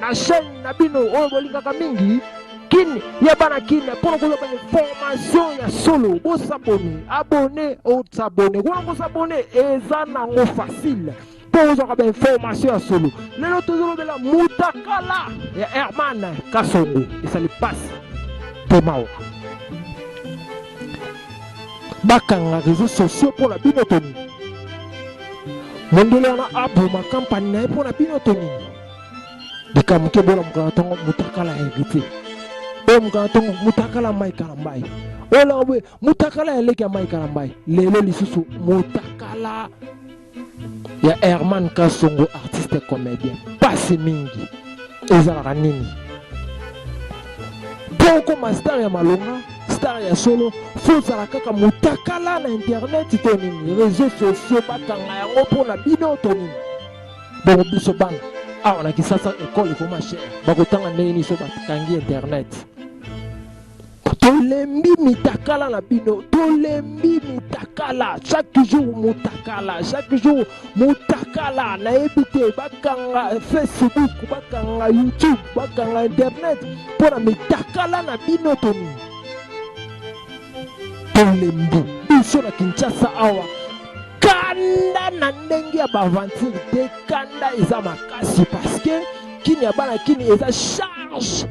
na chaîne na bino oyo bolingaka mingi kin ya bana kin mpona kozwa information ya solo bosabone abone osabone kuna kosabone eza nango facile mpo ozwaka bainformation ya solo lelo tozolobela mutakala ya herman kasongo esali pasi mpe mawa bakanga réseau sociaux mpo na bino toni mondele wana aboma kampani na ye mpo na bino tonini likambo te bona mokana ntongo mutakala heritier oyo mokana ntongo mutakala mai kalambai oyo laka boye mutakala ya leki ya mai kalambai lelo lisusu mutakala ya herman kasongo artiste comédien pasi mingi ezalaka nini mpo okoma star ya malonga star ya solo fo ozala kaka mutakala na internet to nini réseau sociaux bakanga yango mpo na bino to nini Bongo biso bana awa na Kisasa ekole ekoma cher, bakotanga ndenge nini so bakangi internet? tolembi mitakala na bino tolembi mitakala chaque jour mutakala chaque jour mutakala nayebi te bakanga facebook bakanga youtube bakanga internet mpo na mitakala na bino toni tolembi biso na kinshasa awa kanda na ndenge ya baventure te kanda eza makasi parceke kini ya bana kini eza charge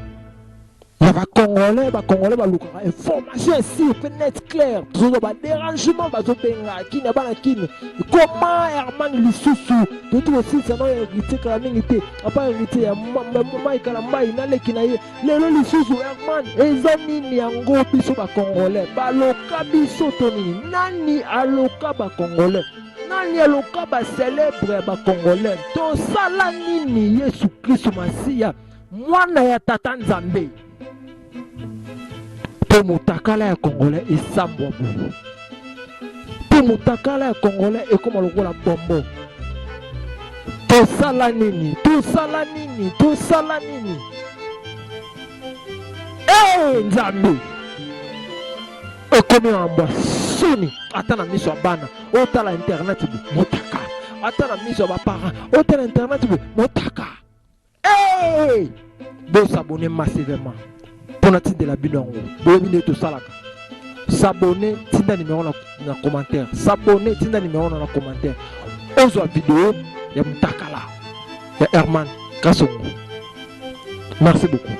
ya bacongolais bacongolais balukaka information esir mpe net clair tozozo baderangement bazobenga kini ya bana kini koma herman lisusu toyeti kosilisa nao heritier kala mingi te apa heritier ya maikala mbai naleki na ye lelo lisusu herman eza nini yango biso bacongolais baloka biso to nini nani aloka bacongolais nani aloka bacelebre ya bacongolais tosala nini yesu kristu masiya mwana ya tata nzambe to motakala ya congolais esambwa boye mpo motakala ya congolais ekoma lokola bombo tosala nini tosala nini tosala nini ee eh, nzambe ekomi mambwa soni ata na miso ya bana otala internet motaka ata na miso ya baparent otala internet motaka hey! bosabone massivement mpo natindela bino yango boyebi nde tosalaka sabone tinda nimero na, na commentaire sabone tinda nimero na na commentaire ozwa video ya mutakala ya herman kasongo merci beaucoup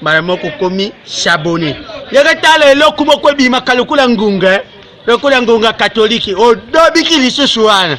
mbala moko okomi sabone yaka tala eloko moko ebimaka lokola ngunga eh. lokola ngunga katoliki odobiki lisusu wana